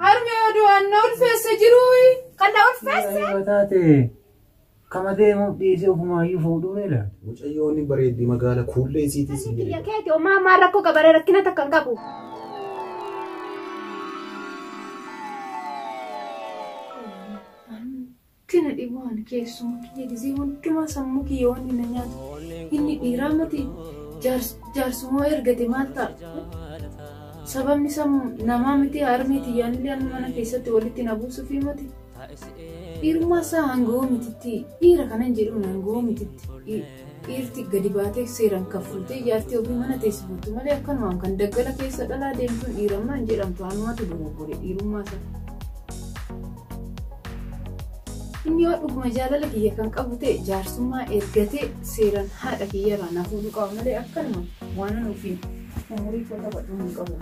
Harmee oduu anna ulfeessa jiruuyi. Kan na ulfeesse. Yoo taate kama deemuuf dhiisee ofumaayyuu fuudhuu dheedha. Mucayyoo ni bareeddi magaala kuullee isiitii si Biyya keeti omaa maa rakkoo gabaree rakkina takka hin qabu. Wanti na dhibu ani keessuma kiyya gizii hundumaa sammuu kiyya wanni na nyaatu inni dhiiraa miti jaarsumoo ergate maal ta'a sababni isaa namaa miti harmee tiyyaanillee amma mana keessatti walitti na buusufi miti dhiirummaa isaa hangawoo mititti dhiira kanan jedhuun hangawoo mititti Dhiirti gadi baatee seeraan kaffaltee ijaartee ofii mana teessifattu malee akkanumaan kan daggala keessa dhalaa deemtuun dhiirammaa hin jedhamtu anumatu dogoggore dhiirummaa isaa. Inni yoo dhuguma jaalala kiyya kan qabu ta'e jaarsummaa ergatee seeraan haadha kiyyarraa na fuudhuu qaba malee akkanuma waanan ofiin umurii koo taphadhu hin qabu.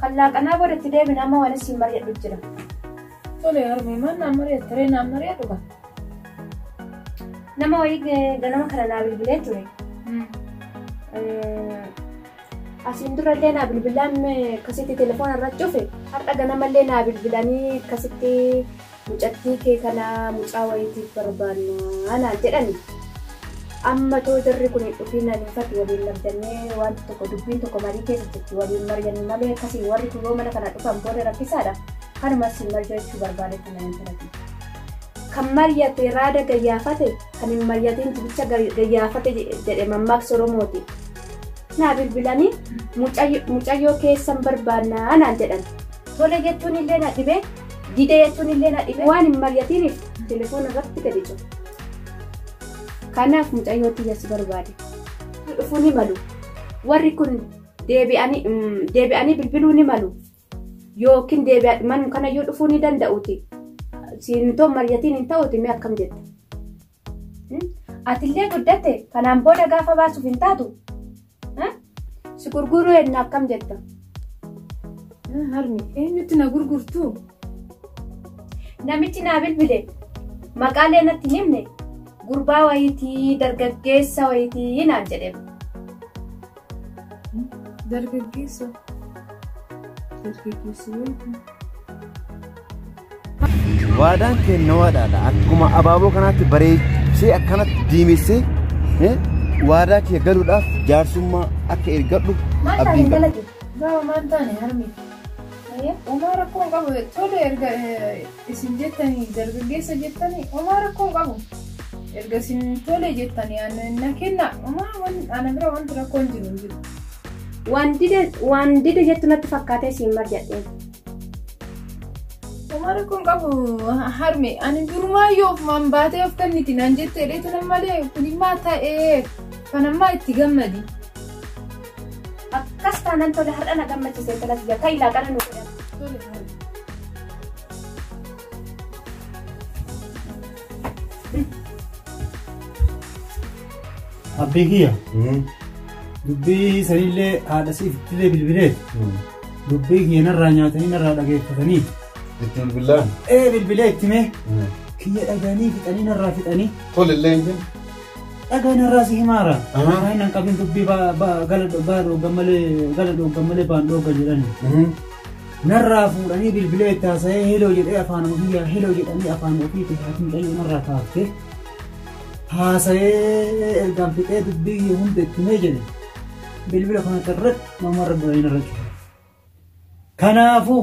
Kan laaqanaa booda itti deebina amma waan isin mari'adhu jira. Tole harmee maal naan mari'atta ree naan mari'adhu kan. Nama wayii eh, ganama kana naa bilbilee ture. Eh, Asiin durallee naa bilbilaan eh, akkasitti telefoona irra cufe. Har'a ganamallee naa bilbilanii akkasitti Mucattii kee kana mucaa wayiitiif barbaanna naan jedhani. Amma too jarri kun hin dhufiin anii fi ati waliin labdannee waanti tokko dubbiin tokko marii keessa jirti waliin mari'annu malee akkasiin warri kun yoo mana kana dhufan booda rakkisaadha. Kanuman siin marjoechuu barbaade kana intala tiyya. Kan maryate raada gayyaafate kan hin maryatiin jibicha gayyaafate jedhe mammaaksi Oromooti. Naa bilbilani mucayyoo keessan barbaanna naan jedhan. Tole jechuun illee na dhibe Dide jechuun illee na dhibe waan hin mari'atiniif telefoona irratti gadi cufe. Kanaaf mucayyoo tiyya si barbaade. Dhufuu ni malu. Warri kun deebi'anii bilbiluu ni malu. Yookiin deebi'anii manuma kanayyuu dhufuu ni danda'uuti. Siintoo mari'atiin hin ta'uuti mee akkam jetta? Atillee guddatte kanaan booda gaafa baasuuf hin taatu. Si gurguruu eenyu akkam jetta? Harmi eenyutti na gurgurtu? Namichi naa bilbile maqaalee natti hin himne gurbaa wayitii dargaggeessa wayitii naan jedhe. Dargaggeessa. Dargaggeessa wayiti. Waadaan keenya waadaadha. Akkuma abaaboo kanaatti bareechee akkanatti diimessee eh, waadaa kee galuudhaaf jaarsummaa akka eeggadhu Maal abdiin taane qaba. dalage? Baaba maal taane harmee? Uumaa rakkoo hin qabu. Tole erga Isin jettanii dargaggeessa jettanii omaa rakkoo hin qabu. Erga isin tole jettanii ana na kenna omaa wan- ana bira wanti rakkoo hin jiru hin jiru. Waan dide waan dide jettu natti fakkaatee siin marjadheen. Omaa rakkoo hin qabu ha- harme ani durumaa yoo ofumaan baatee of kenniti naan jette dheetu nan malee kunimmaa ta'ee kanammaa itti gammadi. Akkas taanan tole har'a na gammachise intala tiyya ta'i laaqana nu godhan. Abbee kiyya dubbii sanillee haadha siif illee bilbilee dubbii kiyya narraa nyaatanii narraa dhageeffatanii Itti bilbilaan. ee bilbilee itti mee kiyya dhaganii fixanii narraa fixanii Tole illee hin jennu. Dhagaa narraa si himaara. Amaaraa hin qabin dubbii baa baa gala baa dhoogan malee gala dhoogan malee baan dhoogan jedhani. Narraa fuudhanii bilbilee itti haasa'ee heloo jedhee afaan ofii yaa heloo jedhanii afaan ofii itti haati mucayyoo narraa kaafte. Haasa'ee ergaan fixee dubbii hunda itti himee jedhe. Bilbila kanatti irratti namarra duranii narra cufa. Kanaafuu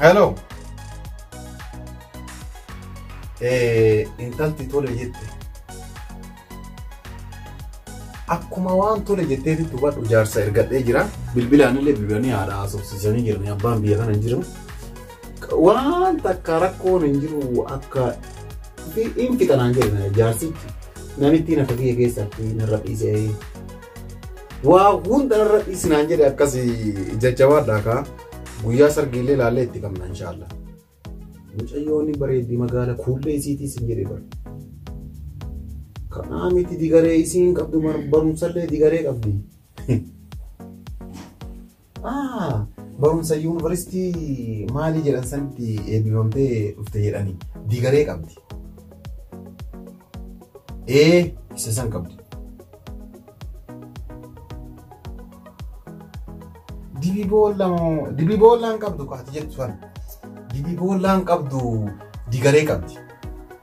Hello. Eh, intalti tole jette. Akkuma waan tole jetteetti hubadhu jaarsa ergadhee jira. Bilbilaanillee bilbilanii haadha haasofsiisanii jirani. Abbaan biyya kana hin jiru. Waan takka rakkoon hin jiru akka hin fixa naan jedhe jaarsichi namittiin akka kiyya keessatti narra dhiisee waa hunda narra dhiisi naan jedhe akkas jajjabaadhaa kaa guyyaa sargiillee ilaallee itti qabna inshaallah. Mucayyoonni bareeddi magaala kuullee isiitiis hin jedhe bara. Kanaa miti digaree isiin qabdu barumsallee digaree qabdi. Ah, barumsa yuunivarsiitii maalii jedhan sanitti eebbifamtee dhufte jedhanii digaree qabdi. Ee, isa san qabdi. Dibii boolla moo dibii boollaan qabdu kaati jettu sana. Dibii boollaan qabdu digaree qabdi.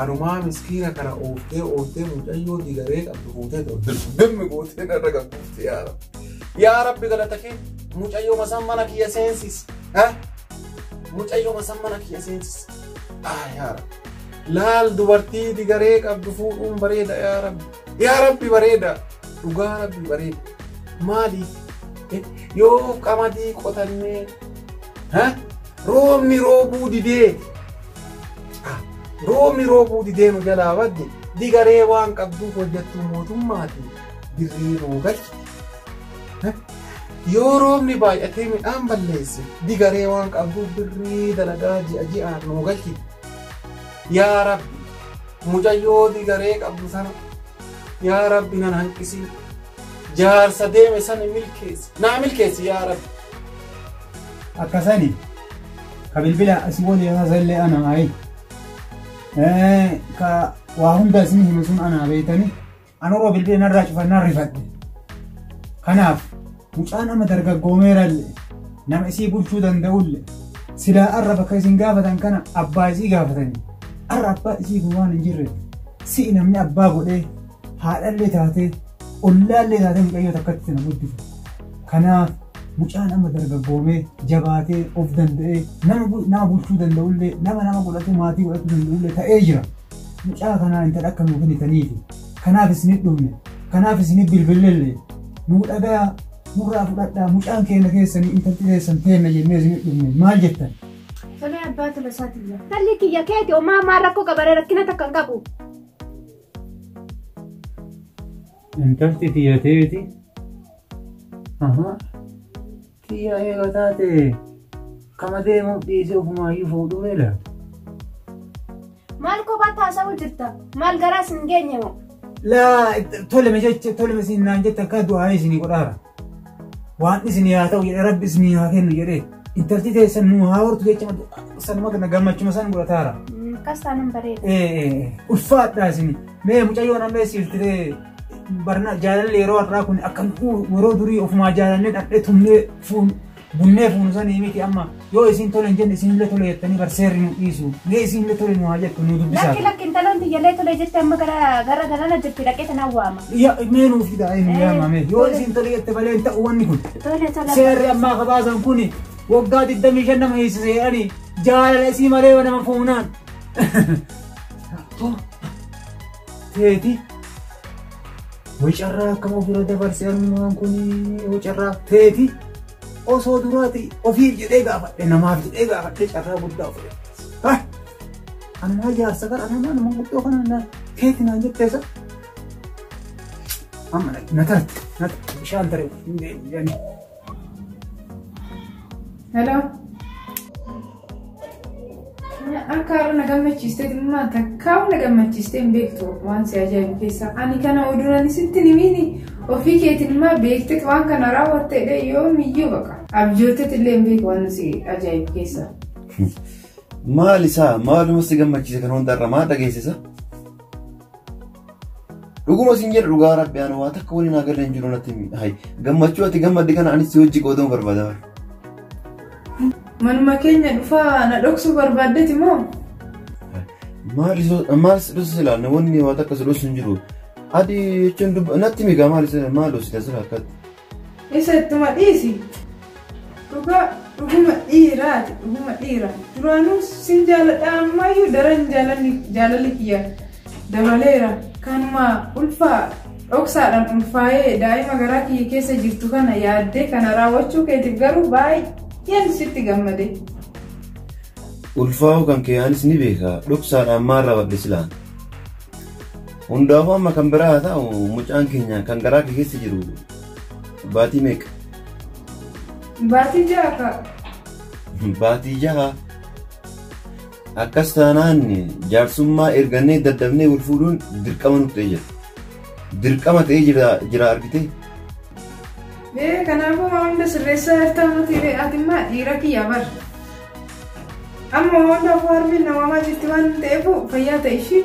Anumaa miskiina kana ooftee ooftee mucayyoo digaree qabdu fuutee ta'u dirgimmi gootee narra gabbuufte yaa rabbi. Yaa rabbi galata kee mucayyoo masaan mana kiyya seensis. Mucayyoo masaan mana kiyya seensis. Ah yaa rabbi. Laal dubartii digaree qabdu fuudhuun bareeda yaa rabbi. Yaa rabbi bareeda. Dhugaa rabbi bareeda. Maaliif? Yoo qamadii qotannee roobni roobuu didee Roobni roobuu didee nu jalaa badde digaree waan qabduuf hojjettuu mootummaati birrii nuu galchi. Yoo roobni baay'atee midhaan balleesse digaree waan qabduuf birrii dalagaa ji'a ji'aan nuu galchi. Yaa Rabbi mucayyoo digaree qabdu sana yaa Rabbi nan hanqisii jaarsa deeme sana milkeessi naa milkeessi yaa Rabbi. Akkasani ka bilbila si waliin haasa'illee ana ayi ka waa hunda isin himu sun anaa beektanii anuroo bilbila narraa cufannaa rifadhe kanaaf mucaan amma dargaggoomeeralle nama isii bulchuu danda'ulle silaa arra bakka isin gaafatan kana abbaa isii gaafatanii arra abbaa isii kun waan hin jirre si'i namni abbaa godhee haadhallee taatee ollaallee taatee mucayyoo takkatti sana guddisu. Kanaaf mucaan amma dargaggoomee jabaatee of danda'ee nama bu- nama bulchuu danda'ullee nama nama godhatu maatii godhatu danda'ullee ta'ee jira. Mucaa kanaa intala akka nuu kennitaniifi kanaaf isinit dhufne kanaaf isinit bilbillellee nuu dhagaa nurraa fudhadhaa mucaan keenya keessanii intalti keessan teenna jennee isinit dhufne maal jettan? Tolee abbaa tola isaati jira. Talli kiyya keeti homaa maa rakkoo qabaree rakkina takka hin qabu. Intalti tiyya teeti. Aha. Tiyya eega taate kama deemuuf dhiisee ofumaayyuu fuudhuu beela. Maal kophaatti haasa'uu jirta? Maal garaas hin geenye moo? Laa toleme jecha toleme siin naan jette akka du'aanis ni godhaara. Waan isinii haa ta'u jedhee rabbi isinii haa kennu jedhee intalti teessan nuu haa hortu jecha sanuma kana gammachuma san godhataara. Akkas taanaan bareeda. Ee ulfaadhaa isin mee mucayyoon amma siiltiree barna jaalalli yeroo har'aa kun akka yeroo durii ofumaa jaalannee dhadhee tumnee fuun Bunnee fuunu sanii miti amma yoo isiin tole hin jenne isinillee tole jettanii bar seerri nu dhiisu. Mee isiinillee tole nu haa jettu nu dubbisaa. Lakki lakki intaloon tiyyalee tolee jettee amma gara gara galana jirti dhaqee tanaan waama. Ya mee nuuf fidaa ee nu Eh, yaama mee yoo tole. isiin tole jette malee hin ta'u wanni kun. Tole tole. Seerri ammaa kabaasan kuni waggaa 25 nama hiisise jedhanii jaalala isii malee nama fuunaan. Too. Teeti. Way carraa akkam ofirra dabarse armumaan kun way carraa teeti osoo duraati ofiif jedhee gaafadhe namaaf jedhee gaafadhe carraa guddaa ofirra dabarse. Ammaa jaarsa kan ammaa nama guddoo kana na teeti naan jettee sa. Amma na tarte na tarte bishaan tare hin deemu jedhanii. Hello. Akka har'a na gammachiistee dhimma takkaa'u na gammachiistee hin beektu waan si ajaa'ibu keessaa. Ani kana oduunan sitti nimiini ofii keetiin immoo beektee waan kana raawwattee yoo miyyuu baqa. Abjootetti illee hin beeku waan si ajaa'ibu keessaa. Maal isaa maaluma si gammachiise kan hundarra maa dhageessisa? Dhuguma sin jedhu dhugaa rabbi ani waa takka waliin haa galee hin jiru natti himi. Hai gammachuu ati gammadde kana anis si hojii qooduu barbaada. Manuma keenya dhufaa na dhoksuu barbaaddeeti moo? Maal dhoosa silaa namoonni waa takka si dhoosu hin jiru. Adi jechuun dubba natti himi gaa maal dhoosi taasisa akkatti. Isa ittuma dhiisi. Dhugaa dhuguma dhiiraati dhuguma dhiira. Duraanuu sin jaaladha ammayyuu daran jaalalli jaalalli kiyya dabaleera. Kanuma ulfaa dhoksaadhaan ulfaa'ee daa'ima garaa kiyya keessa jirtu kana yaaddee kana raawwachuu keetiif garuu baay'een sitti gammade. Ulfaa'uu kan kee anis ni beeka. Dhoksaadhaan maal raawwadhe silaa? Hundaafuu amma kan biraa haa ta'u mucaan keenya kan garaa kee keessa jiru baatii meeqa? Baatii ja'a fa'a. Baatii jaha. Akkas taanaan jaarsummaa ergannee daddafnee wal fuudhuun dirqama nuuf ta'ee jira. Dirqama ta'ee jira jira argitee? Ee kanaafuu waan hunda sirreessaa jirtaa miti ree ati immoo dhiira kiyya bar. Amma waan hundaafuu harmeen na waamaa jirti waan ta'eef fayyaa ta'e ishii.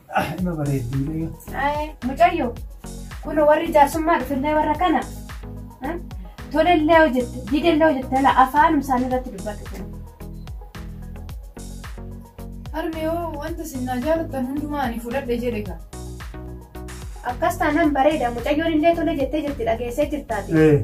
Ima bareeddi mucayyoo. Ayi, mucayyo kun warri jaarsummaa dhufillee warra kana eh, tolellee hojjette didellee hojjette ala afaanum isaanii irratti dubbatu kun. Harmee hoo wanta sinnaa jaalattan hundumaa ani fudhadhe jedhe kaa. Akkas taanaan bareeda mucayyoon illee tole jettee jirti dhageessee jirtaati. Eh.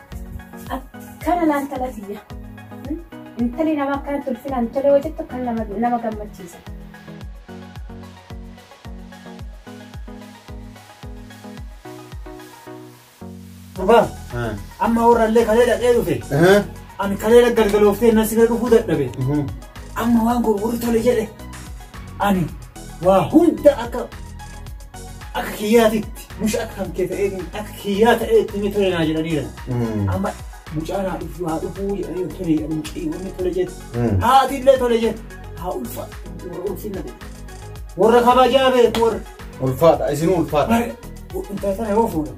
Akkana naan tala tiyya. Intali nama akkanatti ulfinaan tole hojjettu kan nama nama gammachiisa. Gurbaa amma warrallee kalee dhaqee dhufe ani kalee galgalooftee na sina dhufuu dadhabe amma waan gurguru tole jedhe ani waa hunda akka akka kiyyaatitti mush akka kan kee ta'ee akka kiyyaa ta'ee itti ni tole naa jedhaniira. Amma mucaa naa dhufuu haa dhufuu jedhanii tole jedhanii mucii wanni tole jedhu. Haati illee tole jedhu. Haa ulfa warra ulfinna ta'e. Warra kabajaa beeku warra. Ulfaadha isin ulfaadha. Bara intaltana yoo fuudhan.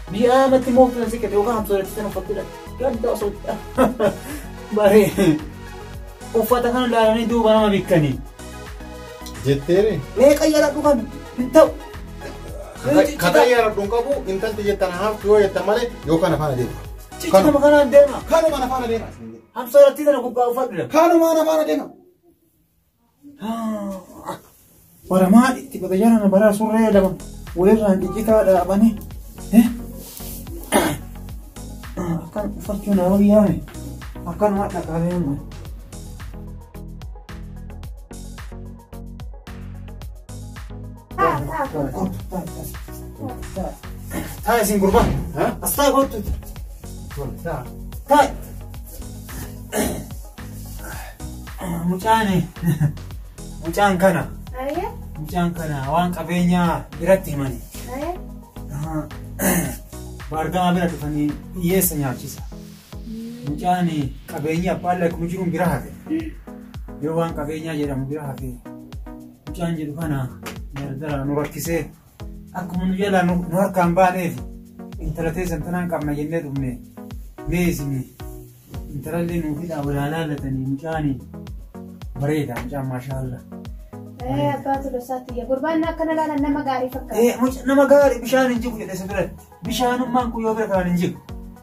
Mi'aa matti moo filan sikkate yookaan hamsooratti sana uffattee dhaqxe. Gadda osoo baree uffata kana ilaalanii duuba nama bikkanii. Jetteere. Mee qayyara dhugan hin ta'u. Kata yaara dhun qabu intalti jettan haaftu yoo jettan malee yoo kana faana deema. Ciccinuma kanaan deema. Kanuma na faana deema. Hamsooratti sana gubbaa uffadhu. Kanuma na faana deema. Waramaa itti bada jarana baraa surree lama walirraan ciccitaa dhaabanii. Akkan uffachuu na wayyaame akkanuma dhaqaalee amma. Taa isin gurbaa. Asxaa kottu. Taa. Mucaan mucaan kana Aye, mucaan kana waan qabeenyaa biratti himani. aye. Baargamaa bira dhufanii hiyyeessa nyaachisa. Mucaan qabeenyi abbaan lakkuu jiruun bira hafe. Yoo waan qabeenyaa jedhamu bira hafe mucaan jedhu kana gargaraa nu rakkisee Akkuma nu jalaa nu nu harkaan baaneef intala teessan tanaan qabna jennee dhufne mee isin intalallee nuuf hidhaa walaa laalatanii mucaanii bareeda mucaan maashaallah. Eh, abbaa tolosaatti iyya. Gurbaan akkana laalan nama gaarii fakkaata. Eh, muca- nama gaarii bishaan hin jigu jedhe si biratti bishaanummaan kun yoo bira kanaan hin jigu.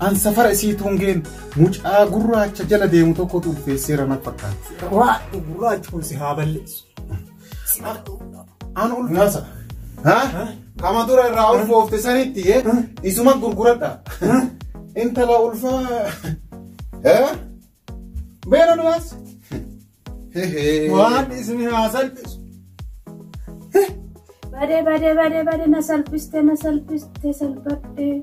An safara isii tuungeen mucaa gurraacha jala deemu tokkotu ulfeesseera na fakkaata. Waadhu gurraachi kun si haa balleessu. Si haa An ulfaasa. Ha? Kama dura irraa ulfoofte sanitti eh? isuma gurguradha. Intala ulfaa. Eh? Beena nuwaas. Waan isni haa salphisu. Badee badee badee badee na salphiste na salphiste salphadhee.